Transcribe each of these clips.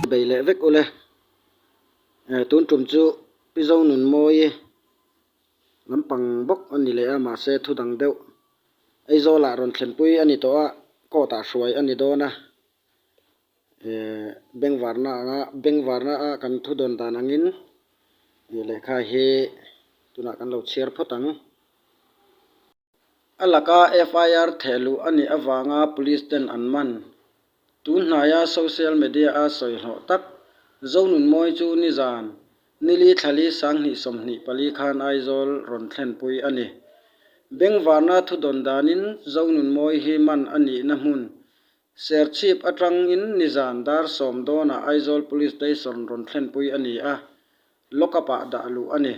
bei leh vek ule eh tun tum chu pizo nun mawi e lampang bawk a ni leh a mahse thu dang deuh Aizawlah rawn thlenpui a ni tawh a coat ah hruai a ni dawn a. Bengvarna anga bengvarna a kan thu dawn dan angin lehkha hi tunah kan lo chhiar phawt ang. A laka FIR theh luh a nih avanga police ten an man. Tun hnaia social media a sawihlawh tak Zonunmawi chu nizan nili thlali sanghnih sawmhnih pali khan Aizawl rawn thlenpui a ni. Bengvarna thu dawn danin Zonunmawi hi man a nihna hmun Serchhip atang in nizan dar sawm dawnah Aizawl Police Station rawn thlenpui a ni a, lock up ah dah luh a ni.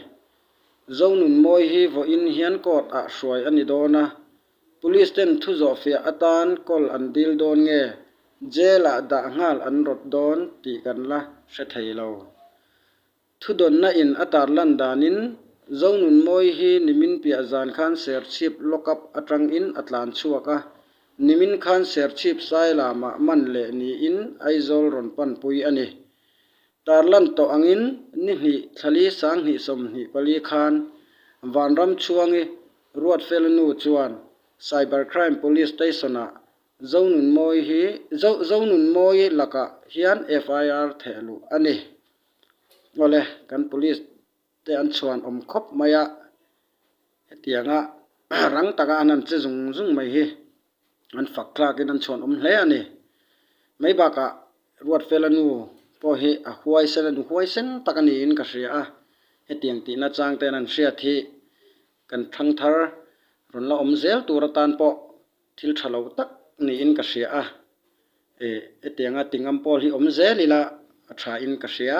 Zonunmawi hi vawiin hian court ah hruai a ni dawn a, Police ten thu zawhfiah atan call an dil dawn nge jail ah dah nghal an rawt dawn tih kan la hre thei lo. Thudawnna in a tar lan danin Zonunmawi hi nimin piah zan khan serchhip lock up atangin a tlan chhuak a, nimin khan serchhip sai lamah man leh niin Aizawl rawn panpui a ni. Tarlan tawh angin ni hnih thlali sang hnih sawmhnih pali khan Vanram chhuangi Ruatfel nu chuan Cyber Crime Police Station-ah Zonunmawi hi Zonunmawi lakah hian FIR theih luh a ni. Awle, kan police te an chhuan awm khawp mai a, hetianga rang taka an han che zung zung mai hi an fak tlakin an chhuan awm hle a ni. Mai bakah Ruatfela nu pawh hi a huaisen a nu huaisen tak a niin ka hria a, hetiang tihna chang ten an hriat hi kan thang thar rawn la awm zel tur atan pawh Thil tha lo tak niin ka hria a, e, hetianga Tingam Paul hi awm zel ila a thain ka hria.